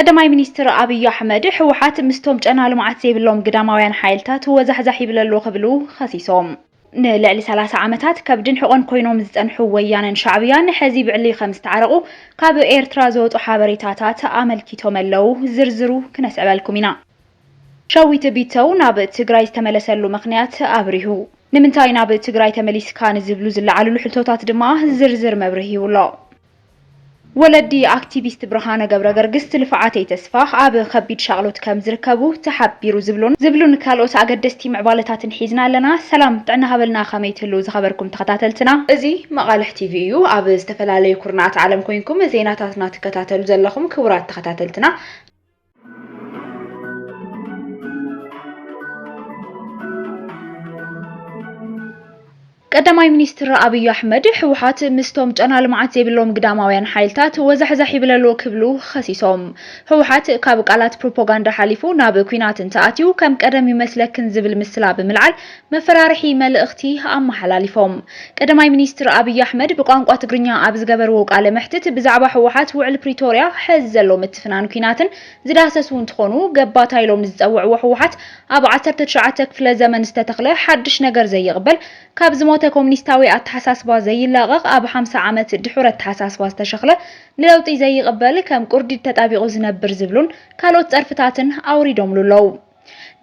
ቀዳማይ ሚኒስትር ኣብዩ ኣሕመድ፣ ህወሓት ምስቶም ጨና ልምዓት ዘይብሎም ግዳማውያን ሓይልታት ወዛሕዛሕ ይብል ኣሎ ክብሉ ኸሲሶም። ንልዕሊ ሰላሳ ዓመታት ከብድን ሕቖን ኮይኖም ዝፀንሑ ወያነን ሻዕብያን ሕዚ ብዕሊ ከምዝተዓረቑ ካብ ኤርትራ ዝወፁ ሓበሬታታት ኣመልኪቶም'ለው። ዝርዝሩ ክነስዕበልኩም ኢና። ሸዊት ቢተው ናብ ትግራይ ዝተመለሰሉ ምኽንያት ኣብሪሁ። ንምንታይ ናብ ትግራይ ተመሊስካ ንዝብሉ ዝለዓልሉ ሕቶታት ድማ ዝርዝር መብርሂ ይብሎ። ወለዲ ኣክቲቪስት ብርሃነ ገብረገርግስት ልፍዓተይ ተስፋ ኣብ ኸቢድ ሻቕሎት ከም ዝርከቡ ተሓቢሩ ዝብሉን ዝብሉን ካልኦት ኣገደስቲ ምዕባለታትን ሒዝና ኣለና ሰላም ጥዕና ሃበልና ከመይ ትህልው ዝኸበርኩም ተኸታተልትና እዚ መቓልሕ ቲቪ እዩ ኣብ ዝተፈላለዩ ኩርናዓት ዓለም ኮይንኩም ዜናታትና ትከታተሉ ዘለኹም ክቡራት ተኸታተልትና ቀዳማይ ሚኒስትር ኣብዩ ኣሕመድ ህወሓት ምስቶም ጨና ልምዓት ዘይብሎም ግዳማውያን ሓይልታት ወዛሕዛሕ ይብለሎ ክብሉ ኸሲሶም። ህወሓት ካብ ቃላት ፕሮፓጋንዳ ሓሊፉ ናብ ኩናት እንተኣትዩ ከም ቀደም ይመስለክን ዝብል ምስላ ብምልዓል መፈራርሒ መልእኽቲ ኣመሓላሊፎም። ቀዳማይ ሚኒስትር ኣብይ ኣሕመድ ብቋንቋ ትግርኛ ኣብ ዝገበርዎ ቃለ መሕትት ብዛዕባ ህወሓት ውዕል ፕሪቶርያ፣ ሐዚ ዘሎ ምትፍናን ኲናትን ዝዳህሰሱ እንትኾኑ ገባታ ኢሎም ንዝፀውዕዎ ህወሓት ኣብ ዓሰርተ ትሽዓተ ክፍለ ዘመን ዝተተኽለ ሓዱሽ ነገር ዘይቕበል ካብ ዝሞተ ኮሚኒስታዊ ኣተሓሳስባ ዘይላቐቕ ኣብ ሓምሳ ዓመት ድሑር ኣተሓሳስባ ዝተሸኽለ ንለውጢ ዘይቕበል ከም ቁርዲድ ተጣቢቑ ዝነብር ዝብሉን ካልኦት ፀርፍታትን ኣውሪዶምሉ ኣለው።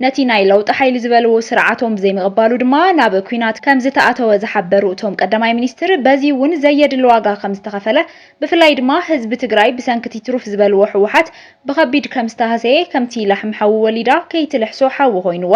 ነቲ ናይ ለውጢ ሓይሊ ዝበልዎ ስርዓቶም ብዘይምቕባሉ ድማ ናብ ኲናት ከምዝተኣተወ ዝሓበሩ እቶም ቀዳማይ ሚኒስትር፣ በዚ እውን ዘየድሊ ዋጋ ከምዝተኸፈለ ብፍላይ ድማ ህዝቢ ትግራይ ብሰንኪ'ቲ ትሩፍ ዝበልዎ ህወሓት ብኸቢድ ከምዝተሃሰየ ከምቲ ላሕሚ ሓዊ ወሊዳ ከይትልሕሶ ሓዊ ኮይኑዋ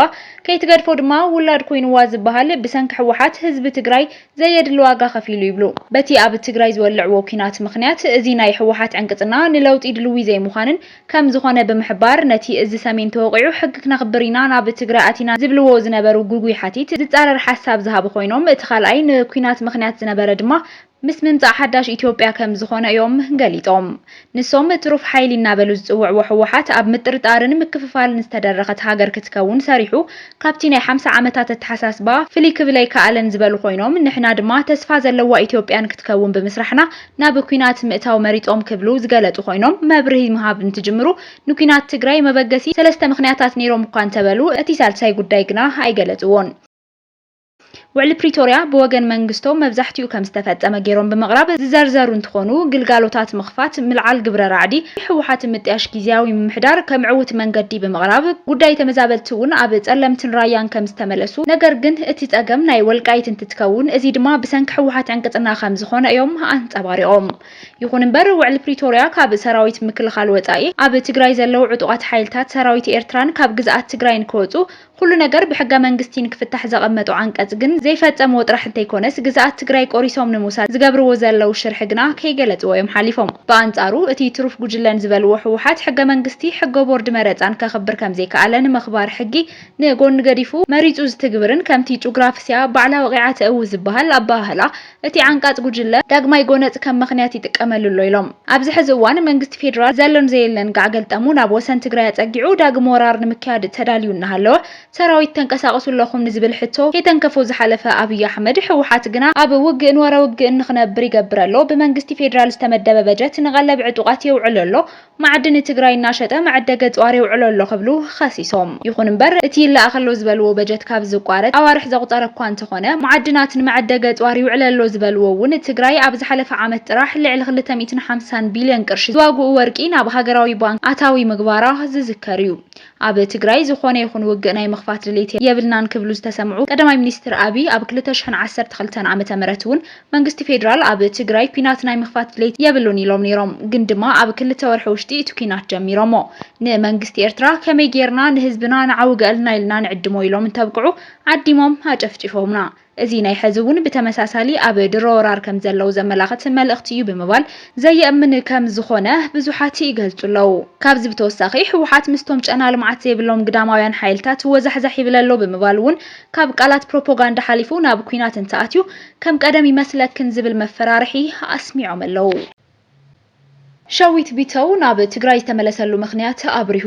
ከይትገድፎ ድማ ውላድ ኮይኑዋ ዝበሃል ብሰንኪ ህወሓት ህዝቢ ትግራይ ዘየድሊ ዋጋ ከፊሉ ይብሉ። በቲ ኣብ ትግራይ ዝወልዕዎ ኲናት ምኽንያት እዚ ናይ ህወሓት ዕንቅፅና ንለውጢ ድልዊ ዘይምዃንን ከም ዝኾነ ብምሕባር፣ ነቲ እዚ ሰሜን ተወቒዑ ሕጊ ክነኽብር ኢና ናብ ትግራይ ኣቲና ዝብልዎ ዝነበሩ ግጉይ ሓቲት ዝጻረር ሓሳብ ዝሃቡ ኮይኖም፣ እቲ ካልኣይ ንኲናት ምኽንያት ዝነበረ ድማ ምስ ምምጻእ ሓዳሽ ኢትዮጵያ ከም ዝኾነ እዮም ገሊጾም። ንሶም ትሩፍ ሓይሊ እናበሉ ዝጽውዕዎ ህወሓት ኣብ ምጥርጣርን ምክፍፋልን ዝተደረኸት ሃገር ክትከውን ሰሪሑ ካብቲ ናይ ሓምሳ ዓመታት ኣተሓሳስባ ፍልይ ክብል ኣይከኣለን ዝበሉ ኮይኖም፣ ንሕና ድማ ተስፋ ዘለዋ ኢትዮጵያን ክትከውን ብምስራሕና ናብ ኲናት ምእታው መሪጾም ክብሉ ዝገለጹ ኮይኖም፣ መብርሂ ምሃብ እንትጅምሩ ንኲናት ትግራይ መበገሲ ሰለስተ ምኽንያታት ነይሮም እኳ እንተበሉ፣ እቲ ሳልሳይ ጉዳይ ግና ኣይገለጽዎን። ውዕሊ ፕሪቶርያ ብወገን መንግስቶም መብዛሕቲኡ ከም ዝተፈጸመ ገይሮም ብምቕራብ ዝዘርዘሩ እንትኾኑ፣ ግልጋሎታት ምኽፋት፣ ምልዓል ግብረ ራዕዲ ህወሓትን ምጥያሽ ጊዚያዊ ምምሕዳር ከም ዕዉት መንገዲ ብምቕራብ፣ ጉዳይ ተመዛበልቲ እውን ኣብ ጸለምትን ራያን ከም ዝተመለሱ ነገር ግን እቲ ጸገም ናይ ወልቃይት እንትከውን እዙይ ድማ ብሰንኪ ህወሓት ዕንቅፅና ከምዝኾነ እዮም ኣንፀባሪቖም። ይኹን እምበር ውዕሊ ፕሪቶርያ ካብ ሰራዊት ምክልኻል ወፃኢ ኣብ ትግራይ ዘለው ዕጡቓት ሓይልታት ሰራዊት ኤርትራን ካብ ግዝኣት ትግራይን ክወፁ ኹሉ ነገር ብሕገ መንግስቲ ንክፍታሕ ዘቐመጦ ዓንቀፅ ግን ዘይፈፀምዎ ጥራሕ እንተይኮነስ ግዝኣት ትግራይ ቆሪሶም ንምውሳድ ዝገብርዎ ዘለው ሽርሒ ግና ከይገለፅዎ እዮም ሓሊፎም። ብኣንፃሩ እቲ ትሩፍ ጉጅለን ዝበልዎ ህወሓት ሕገ መንግስቲ፣ ሕገ ቦርድ መረፃን ከኽብር ከምዘይከኣለ ንምኽባር ሕጊ ንጎኒ ገዲፉ መሪጹ ዝትግብርን ከምቲ ጩግራፍስያ ባዕላ ወቒዓ ተእዊ ዝበሃል ኣበሃህላ እቲ ዓንቃጽ ጉጅለ ዳግማይ ጎነጽ ከም መኽንያት ይጥቀመሉ ኣሎ ኢሎም። ኣብዚ ሕዚ እዋን መንግስቲ ፌዴራል ዘሎን ዘየለን ጋዕ ገልጠሙ ናብ ወሰን ትግራይ ኣጸጊዑ ዳግም ወራር ንምክያድ ተዳልዩ እናሃለወ ሰራዊት ተንቀሳቕሱ ኣለኹም ንዝብል ሕቶ ከይተንከፎ ዝሓለፈ ኣብይ ኣሕመድ ህወሓት ግና ኣብ ውግእን ወረ ውግእን ንኽነብር ይገብር ኣሎ። ብመንግስቲ ፌዴራል ዝተመደበ በጀት ንቐለብ ዕጡቓት የውዕሎ ኣሎ። መዓድን ትግራይ እናሸጠ መዐደገ ፅዋር የውዕሎ ኣሎ ክብሉ ኸሲሶም። ይኹን እምበር እቲ ይለኣኽ ኣሎ ዝበልዎ በጀት ካብ ዝቋረፅ ኣዋርሕ ዘቑፀረ እኳ እንተኾነ መዓድናት ንመዐደገ ፅዋር ይውዕለ ኣሎ ዝበልዎ እውን ትግራይ ኣብ ዝሓለፈ ዓመት ጥራሕ ልዕሊ ክልተ ሚእትን ሓምሳን ቢልዮን ቅርሺ ዝዋግኡ ወርቂ ናብ ሃገራዊ ባንክ ኣታዊ ምግባራ ዝዝከር እዩ። ኣብ ትግራይ ዝኾነ ይኹን ውግእ ናይ ምኽፋት ድሌት የብልናን ክብሉ ዝተሰምዑ ቀዳማይ ሚኒስትር ኣብይ፣ ኣብ ክልተ ሽሕን ዓሰርተ ክልተን ዓመተ ምህረት እውን መንግስቲ ፌዴራል ኣብ ትግራይ ኲናት ናይ ምኽፋት ድሌት የብሉን ኢሎም ነይሮም። ግን ድማ ኣብ ክልተ ወርሒ ውሽጢ እቲ ኲናት ጀሚሮሞ። ንመንግስቲ ኤርትራ ከመይ ገይርና ንህዝብና ንዓውገልና ኢልና ንዕድሞ ኢሎም እንተብቅዑ ዓዲሞም ኣጨፍጪፎምና። እዚ ናይ ሕዚ እውን ብተመሳሳሊ ኣብ ድሮ ወራር ከም ዘለዉ ዘመላኽት መልእኽቲ እዩ ብምባል ዘየእምን ከም ዝኾነ ብዙሓት ይገልፁ ኣለዉ። ካብዚ ብተወሳኺ ህወሓት ምስቶም ጨና ልምዓት ዘይብሎም ግዳማውያን ሓይልታት ወዛሕዛሕ ይብል ኣሎ ብምባል እውን ካብ ቃላት ፕሮፖጋንዳ ሓሊፉ ናብ ኲናት እንተኣትዩ ከም ቀደም ይመስለክን ዝብል መፈራርሒ ኣስሚዖም ኣለዉ። ሸዊት ቢተው ናብ ትግራይ ዝተመለሰሉ ምኽንያት ኣብሪሁ።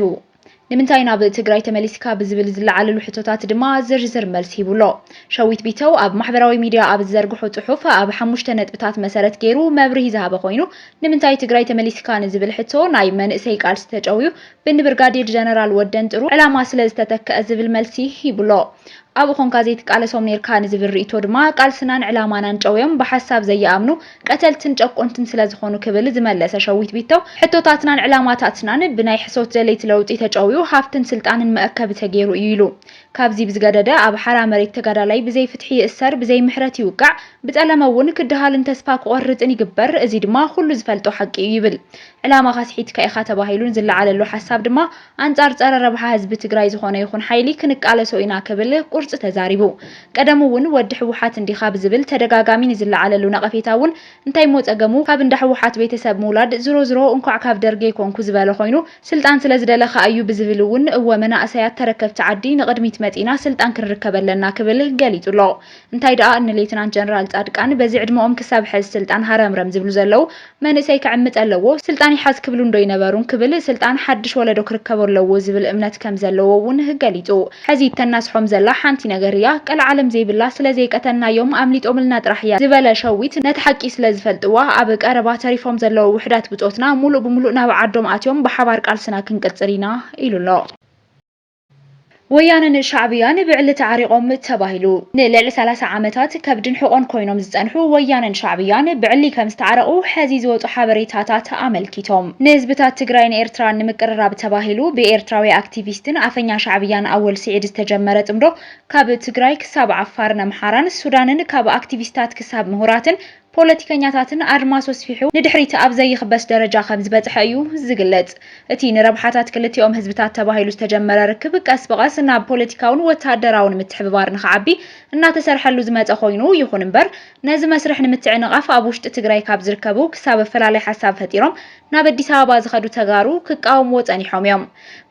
ንምንታይ ናብ ትግራይ ተመሊስካ ብዝብል ዝለዓለሉ ሕቶታት ድማ ዝርዝር መልሲ ሂቡ ኣሎ። ሸዊት ቢተው ኣብ ማሕበራዊ ሚድያ ኣብ ዝዘርግሖ ፅሑፍ ኣብ ሓሙሽተ ነጥብታት መሰረት ገይሩ መብርሂ ዝሃበ ኮይኑ ንምንታይ ትግራይ ተመሊስካ ንዝብል ሕቶ ናይ መንእሰይ ቃልሲ ተጨውዩ ብንብርጋዴር ጀነራል ወደንጥሩ ዕላማ ስለዝተተከኣ ዝብል መልሲ ሂቡ ኣሎ። ኣብኡ ኮንካ ዘይትቃለሶም ኔርካ ንዝብል ርእይቶ ድማ ቃልስናን ዕላማናን ጨውዮም ብሓሳብ ዘይኣምኑ ቀተልትን ጨቆንትን ስለዝኾኑ ክብል ዝመለሰ ሸዊት ቢተው ሕቶታትናን ዕላማታትናን ብናይ ሕሶት ደለይቲ ለውጢ ተጨውዩ ሃፍትን ስልጣንን መእከቢ ተጌሩ እዩ ኢሉ። ካብዚ ብዝገደደ ኣብ ሓራ መሬት ተጋዳላይ ብዘይ ፍትሒ ይእሰር ብዘይ ምሕረት ይውቃዕ ብጸለመ እውን ክደሃልን ተስፋ ክቖርጽን ይግበር እዚ ድማ ኩሉ ዝፈልጦ ሓቂ እዩ ይብል ዕላማኻ ስሒትካ ኢኻ ተባሂሉን ዝለዓለሉ ሓሳብ ድማ ኣንፃር ፀረ ረብሓ ህዝቢ ትግራይ ዝኾነ ይኹን ሓይሊ ክንቃለሶ ኢና ክብል ቁርፂ ተዛሪቡ። ቀደሙ እውን ወዲ ህወሓት እንዲኻ ብዝብል ተደጋጋሚ ንዝለዓለሉ ነቐፌታ እውን እንታይሞ ፀገሙ ካብ እንዳ ህወሓት ቤተሰብ ምውላድ ዝሮ ዝሮ እንኳዕ ካብ ደርጊ ኣይኮንኩ ዝበለ ኮይኑ ስልጣን ስለዝደለ ኻዓ እዩ ብዝብል እውን እወ መናእሰያት ተረከብቲ ዓዲ ንቕድሚት መፂእና ስልጣን ክንርከብ ኣለና ክብል ገሊፁ ኣሎ። እንታይ ደኣ ንሌትናንት ጀነራል ጻድቃን በዚ ዕድመኦም ክሳብ ሐዚ ስልጣን ሃረምረም ዝብሉ ዘለው መንእሰይ ክዕምጽ ኣለዎ ስልጣን ይሓዝ ክብሉን ዶ ይነበሩን ክብል ስልጣን ሓድሽ ወለዶ ክርከቦ ኣለዎ ዝብል እምነት ከም ዘለዎ ውን ገሊጹ ሐዚ እተናስሖም ዘላ ሓንቲ ነገር እያ ቀልዓለም ዘይብላ ስለ ዘይቀተልናዮም ኣምሊጦምልና ጥራሕ እያ ዝበለ ሸዊት ነቲ ሓቂ ስለ ዝፈልጥዋ ኣብ ቀረባ ተሪፎም ዘለው ውሕዳት ብጾትና ሙሉእ ብሙሉእ ናብ ዓዶም ኣትዮም ብሓባር ቃልስና ክንቅጽል ኢና ኢሉ ኣሎ። ወያነን ሻዕብያን ብዕሊ ተዓሪቖም ተባሂሉ። ንልዕሊ ሰላሳ ዓመታት ከብድን ሕቖን ኮይኖም ዝፀንሑ ወያነን ሻዕብያን ብዕሊ ከምዝተዓረቑ ሐዚ ዝወፁ ሓበሬታታት ኣመልኪቶም። ንህዝብታት ትግራይን ኤርትራን ንምቅርራብ ተባሂሉ ብኤርትራዊ ኣክቲቪስትን ኣፈኛ ሻዕብያን ኣወል ስዒድ ዝተጀመረ ፅምዶ ካብ ትግራይ ክሳብ ዓፋርን ኣምሓራን ሱዳንን ካብ ኣክቲቪስታት ክሳብ ምሁራትን ፖለቲከኛታትን ኣድማሱ ኣስፊሑ ንድሕሪት ኣብ ዘይኽበስ ደረጃ ከም ዝበጽሐ እዩ ዝግለጽ። እቲ ንረብሓታት ክልቲኦም ህዝብታት ተባሂሉ ዝተጀመረ ርክብ ቀስ ብቐስ ናብ ፖለቲካውን ወተሃደራውን ምትሕብባር ንኽዓቢ እናተሰርሐሉ ዝመጸ ኮይኑ፣ ይኹን እምበር ነዚ መስርሕ ንምትዕንቓፍ ኣብ ውሽጢ ትግራይ ካብ ዝርከቡ ክሳብ ኣፈላላይ ሓሳብ ፈጢሮም ናብ ኣዲስ ኣበባ ዝኸዱ ተጋሩ ክቃወምዎ ጸኒሖም እዮም።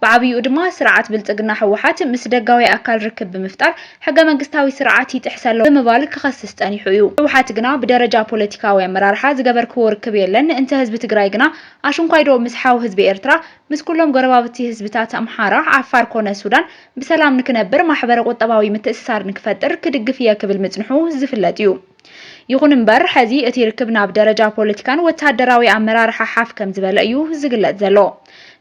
ብዓብይኡ ድማ ስርዓት ብልፅግና ህወሓት ምስ ደጋዊ ኣካል ርክብ ብምፍጣር ሕገመንግስታዊ ስርዓት ይጥሕስ ኣሎ ብምባል ክኸስስ ፀኒሑ እዩ። ህወሓት ግና ብደረጃ ፖለቲካዊ ኣመራርሓ ዝገበርክዎ ርክብ የለን እንተ ህዝቢ ትግራይ ግና ኣሽንኳይዶ ምስ ሓው ህዝቢ ኤርትራ ምስ ኩሎም ጎረባብቲ ህዝብታት ኣምሓራ፣ ዓፋር ኮነ ሱዳን ብሰላም ንክነብር ማሕበረ ቁጠባዊ ምትእስሳር ንክፈጥር ክድግፍ እየ ክብል ምፅንሑ ዝፍለጥ እዩ። ይኹን እምበር ሐዚ እቲ ርክብ ናብ ደረጃ ፖለቲካን ወታደራዊ ኣመራርሓ ሓፍ ከምዝበለ እዩ ዝግለፅ ዘሎ።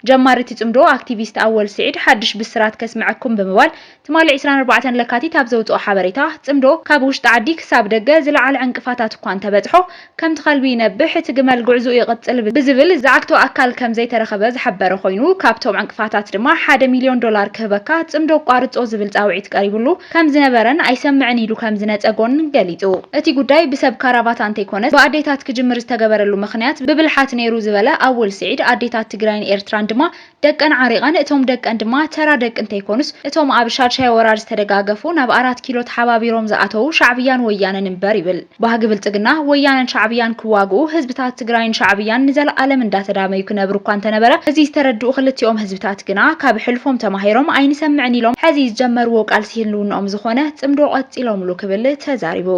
ጀማሪ እቲ ፅምዶ ኣክቲቪስት ኣወል ስዒድ ሓዱሽ ብስራት ከስመዐኩም ብምባል ትማሊ ዕስራን ኣርባዕተን ለካቲት ኣብ ዘውፅኦ ሓበሬታ ፅምዶ ካብ ውሽጢ ዓዲ ክሳብ ደገ ዝለዓለ ዕንቅፋታት እኳ እንተበፅሖ ከምቲ ከልቢ ይነብሕ እቲ ግመል ጉዕዝኡ ይቕፅል ብዝብል ዝዓግቶ ኣካል ከምዘይተረኸበ ዝሓበረ ኮይኑ ካብቶም ዕንቅፋታት ድማ ሓደ ሚልዮን ዶላር ክህበካ ፅምዶ ኣቋርፆ ዝብል ፃውዒት ቀሪብሉ ከም ዝነበረን ኣይሰምዕን ኢሉ ከም ዝነጸጎን ገሊጹ። እቲ ጉዳይ ብሰብ ካራቫታ እንተይኮነስ ብኣዴታት ክጅምር ዝተገበረሉ ምኽንያት ብብልሓት ነይሩ ዝበለ ኣወል ስዒድ፣ ኣዴታት ትግራይን ኤርትራን ድማ ደቀን ዓሪቐን እቶም ደቀን ድማ ተራ ደቂ እንተይኮኑስ እቶም ኣብ ሻድሻይ ወራር ዝተደጋገፉ ናብ ኣራት ኪሎ ተሓባቢሮም ዝኣተዉ ሻዕብያን ወያነን እምበር ይብል። ባህጊ ብልፅግና፣ ወያነን ሻዕብያን ክዋግኡ፣ ህዝብታት ትግራይን ሻዕብያን ንዘለኣለም እንዳተዳመዩ ክነብሩ እኳ እንተነበረ እዚ ዝተረድኡ ክልቲኦም ህዝብታት ግና ካብ ሕልፎም ተማሂሮም ኣይንሰምዕን ኢሎም ሕዚ ዝጀመርዎ ቃልሲ ህልውንኦም ዝኾነ ፅምዶ ቀፂሎምሉ ክብል ተዛሪቡ።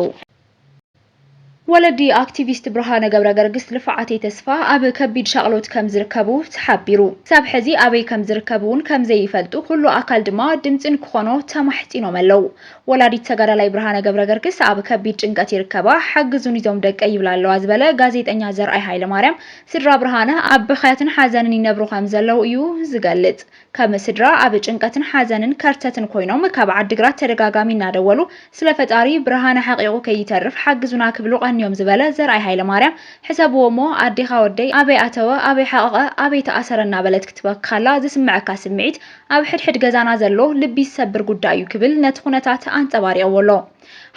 ወለዲ ኣክቲቪስት ብርሃነ ገብረገርግስ ልፍዓተይ ተስፋ ኣብ ከቢድ ሻቕሎት ከም ዝርከቡ ተሓቢሩ። ክሳብ ሕዚ ኣበይ ከም ዝርከብ እውን ከም ዘይፈልጡ ኩሉ ኣካል ድማ ድምፂ ንክኾኖ ተማሕፂኖም ኣለው። ወላዲት ተጋዳላይ ብርሃነ ገብረገርግስ ኣብ ከቢድ ጭንቀት ይርከባ፣ ሓግዙኒ እዞም ደቀይ ይብላ ኣለዋ ዝበለ ጋዜጠኛ ዘርኣይ ሃይለማርያም፣ ስድራ ብርሃነ ኣብ ብኽያትን ሓዘንን ይነብሩ ከምዘለዉ እዩ ዝገልጽ። ከም ስድራ ኣብ ጭንቀትን ሓዘንን ከርተትን ኮይኖም ካብ ዓዲግራት ተደጋጋሚ እናደወሉ ስለ ፈጣሪ ብርሃነ ሓቒቑ ከይተርፍ ሓግዙና ክብሉ ቀንዮም ዝበለ ዘርኣይ ሃይለማርያም፣ ሕሰብዎ'ሞ ኣዴኻ ወደይ ኣበይ ኣተወ፣ ኣበይ ሓቐቐ፣ ኣበይ ተኣሰረ እናበለት ክትበኪ ከላ ዝስመዐካ ስምዒት ኣብ ሕድሕድ ገዛና ዘሎ ልቢ ዝሰብር ጉዳይ እዩ ክብል ነቲ ኩነታት ኣንጸባሪቕዎ ኣሎ።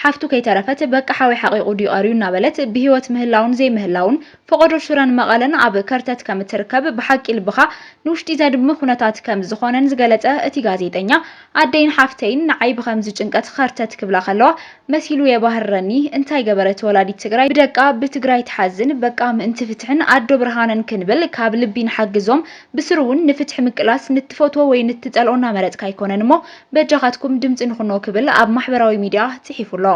ሓፍቱ ከይተረፈት በቃ ሓወይ ሓቒቑ ድዩ ቀርዩ እናበለት ብህይወት ምህላውን ዘይምህላውን ፈቖዶ ሽረን መቐለን ኣብ ከርተት ከም እትርከብ ብሓቂ ልብኻ ንውሽጢ ዘድሚ ኩነታት ከም ዝኾነን ዝገለጸ እቲ ጋዜጠኛ ኣደይን ሓፍተይን ንዓይ ብኸምዚ ጭንቀት ኸርተት ክብላ ከለዋ መሲሉ የባህርረኒ እንታይ ገበረት ወላዲት ትግራይ ብደቃ ብትግራይ ትሓዝን በቃ ምእንቲ ፍትሕን ኣዶ ብርሃነን ክንብል ካብ ልቢ ንሓግዞም ብስሩ ውን ንፍትሒ ምቅላስ ንትፈትዎ ወይ ንትጸልኦ እናመረጽካ ኣይኮነን እሞ በጃኻትኩም ድምጺ ንኹኖ ክብል ኣብ ማሕበራዊ ሚድያ ጽሒፉ ኣሎ።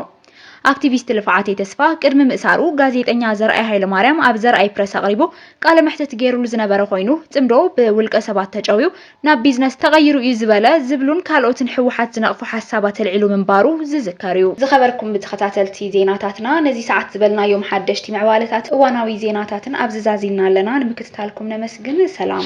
ኣክቲቪስት ልፍዓተይ ተስፋ ቅድሚ ምእሳሩ ጋዜጠኛ ዘርኣይ ሃይለማርያም ኣብ ዘርኣይ ፕረስ ኣቕሪቡ ቃለ መሕትት ገይሩሉ ዝነበረ ኮይኑ ጽምዶ ብውልቀ ሰባት ተጨውዩ ናብ ቢዝነስ ተቐይሩ እዩ ዝበለ ዝብሉን ካልኦትን ህወሓት ዝነቕፉ ሓሳባት ኣልዒሉ ምንባሩ ዝዝከር እዩ። ዝኸበርኩም ብተኸታተልቲ ዜናታትና ነዚ ሰዓት ዝበልናዮም ሓደሽቲ ምዕባለታትን እዋናዊ ዜናታትን ኣብዚ ዛዚምና ኣለና ንምክትታልኩም ታልኩም ነመስግን ሰላም።